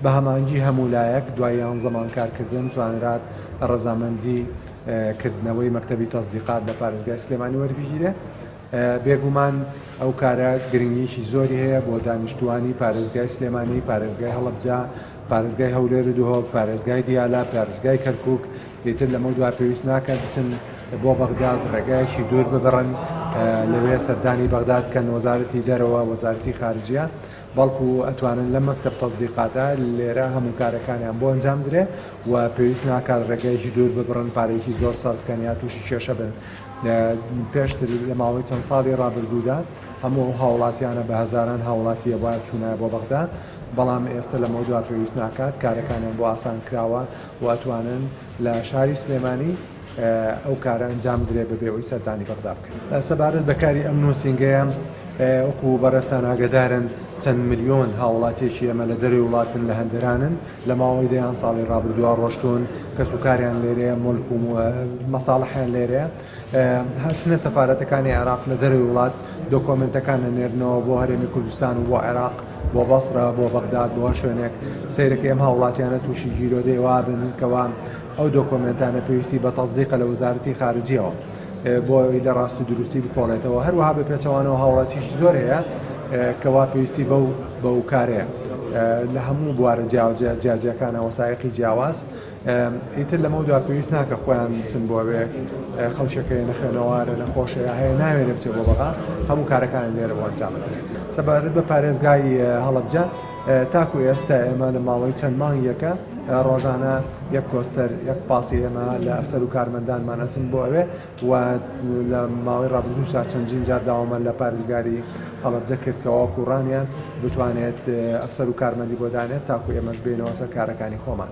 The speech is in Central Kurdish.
بە هەمانگی هەموو لایەک دوای یانزە مانگ کارکردن توانرا رەزامەندی کردنەوەی مەکتەبی تەزدیقات لە پارێزگای سلێمانی وەربگیرێت بێگومان ئەو کارە گرنگیشی زۆری هەیە بۆ دانیشتوانی پارێزگای سلێمانی پارێزگای هەڵبجا پارێزگای هەولێر و دهۆک پارێزگای دیالا پارێزگای کەرکک ئیتر لەمە دوا پێویست ناکە بچن بۆ بەغداد ڕێگایەکی دوور ببڕن لەوێ سەردانی بەغداد کەن وەزارەتی دەرەوە وەزارتی خارجە بەڵکو ئەتوانن لەم مەکتەب تەزدیقاتە لێرە هەموو کارەکانیان بۆ ئەنجام بدرێ و پێویست ناکات ڕێگەیەکی دوور ببڕن پارەیەکی زۆر سەرف بکەن یا تووشی کێشە بن پێشتر لە ماوەی چەند ساڵی ڕابردوودا هەموو ئەو هاوڵاتیانە بە هەزاران هاوڵاتیە بۆ چوونایە بۆ بەغدا بەڵام ئێستا لەمە دوا پێویست ناکات کارەکانیان بۆ ئاسان کراوە و ئەتوانن لە شاری سلێمانی ئەو کارە ئەنجام بدرێت بەبێ ئەوەی سەردانی بەغدا بکەن. سەبارەت بە کاری ئەم نووسینگەیە، وەکو بەڕێزتان ئاگەدارن چەند ملیۆن هاووڵاتییەکی ئێمە لە دەرەوەی وڵاتن، لە هەندەرانن، لە ماوەی دەیان ساڵی ڕابردووە ڕۆشتوون، کەسوکاریان لێرەیە، موڵک و مەساڵحیان لێرەیە، ئەچنە سەفارەتەکانی عێراق لە دەرەوەی وڵات دۆکۆمێنتەکان ئەنێرنەوە بۆ هەرێمی کوردستان و بۆ عێراق، بۆ بەسڕە، بۆ بەغداد، بۆ هەر شوێنێک، سەیرەکەی ئەم هاووڵاتیانە تووشی گیرۆدەی وا بن کەوا، ئەو دۆکۆمێنتانە پێویستی بە تەسدیقە لە وەزارەتی خارجییەوە بۆ ئەوەی لە ڕاست و دروستی بکۆڵێتەوە، هەروەها بە پێچەوانەوە هاوڵاتیشی زۆر هەیە کە وا پێویستی بەو بەو کارەیە لە هەموو بوارە جیاوجە جیاجیاکانە وەسایەقی جیاواز ئیتر لەمە دوا پێویست ناکە خۆیان بچن بۆوێ خەڵکەکەی نەخێنەوارە نەخۆشەیە هەیە ناوێنە بچێ بۆ بەغا هەموو کارەکانی لێرە بۆ ئەنجامەکە سەبارەت بە پارێزگای هەڵەبجە تاکو ئێستا ئێمە لە ماوەی چەند مانگێکە ڕۆژانە یەک کۆستەر یەک پاسی ئێمە لە ئەفسەر و کارمەندانمان ئەچن بۆ ئەوێ و لە ماوەی ڕابردوو شار چەندین جار داوامە لە پارێزگاری هەڵەبجە کرد کەواکو و ڕانیان بتوانێت ئەفسەر و کارمەندی بۆ دانێت تاکو ئێمەش بینەوە سەر کارەکانی خۆمان.